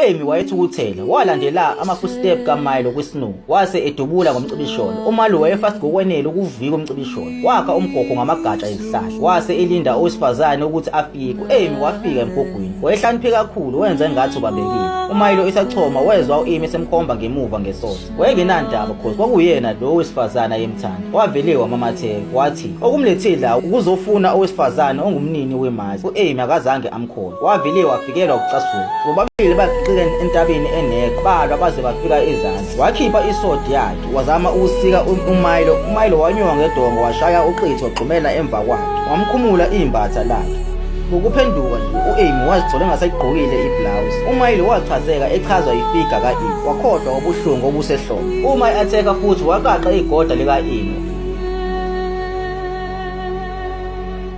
UEmi wayethukuthele, walandela ama-footstep kaMilo kwiSnow, wase edubula ngomcibisholo. UMilo wayefast ngokwenele ukuvika umcibisholo. Wakha umgogo ngamagatsha ezihlahla, wase elinda owesifazane ukuthi afike. UEmi wafika emgogwini. Wayehlakaniphe kakhulu, wenza engathi ubambekile. UMilo esachoma, wezwa uEmi esemkhomba ngemuva ngesotha. wayengenandaba cause kwakuyena lo wesifazane ayemthanda wavele wamamatheka wathi okumlethile la ukuzofuna owesifazane ongumnini wemazi u-amy akazange amkhona wavele wafikelwa ukucasuka bobabili bagixile entabeni engekho balwa baze bafika ezansi wakhipha isodi yakhe wazama ukusika umayilo umayilo wanyuka ngedongo washaya uqitho wagxumela emva kwakhe wamkhumula iy'mbatha lakhe Ngokuphenduka nje u-Amy wazithola engasayigqokile iblouse. UMayile wachazeka echazwa ifiga ka-Amy wakhohlwa ngobuhlungu obusehlombe. Uma i-atheka futhi waqaqa igoda lika-Amy.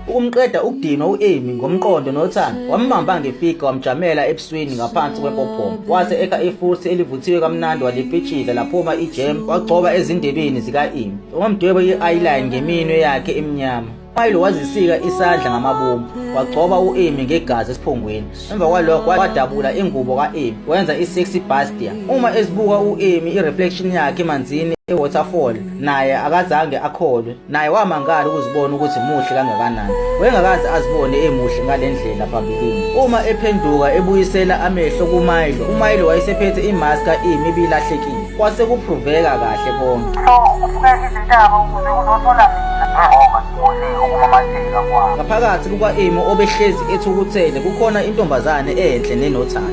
Ukumqeda ukudinwa u-Amy ngomqondo nothando wambamba ngefiga wamjamela ebusweni ngaphansi kwempophoma. Wase ekha ifuthi elivuthiwe kamnandi walipitshila laphuma ijem wagcoba ezindebeni zika-Amy. Wamdweba i-eyeline ngeminwe yakhe emnyama. Phayilo wazisika isandla ngamabomu wagcoba u-Amy ngegazi esiphongweni emva kwalokho wadabula ingubo ka-Amy wenza i-sexy bastia uma esibuka u-Amy i-reflection yakhe emanzini e-waterfall naye akazange akholwe naye wamangala ukuzibona ukuthi muhle kangakanani wengakaze azibone emuhle ngale ndlela phambilini uma ephenduka ebuyisela amehlo kumayilo umayilo wayesephethe imaska imi ibilahlekile kwase kupruveka kahle konke ngaphakathi kuka-imo obehlezi ethukuthele kukhona intombazane enhle nenothando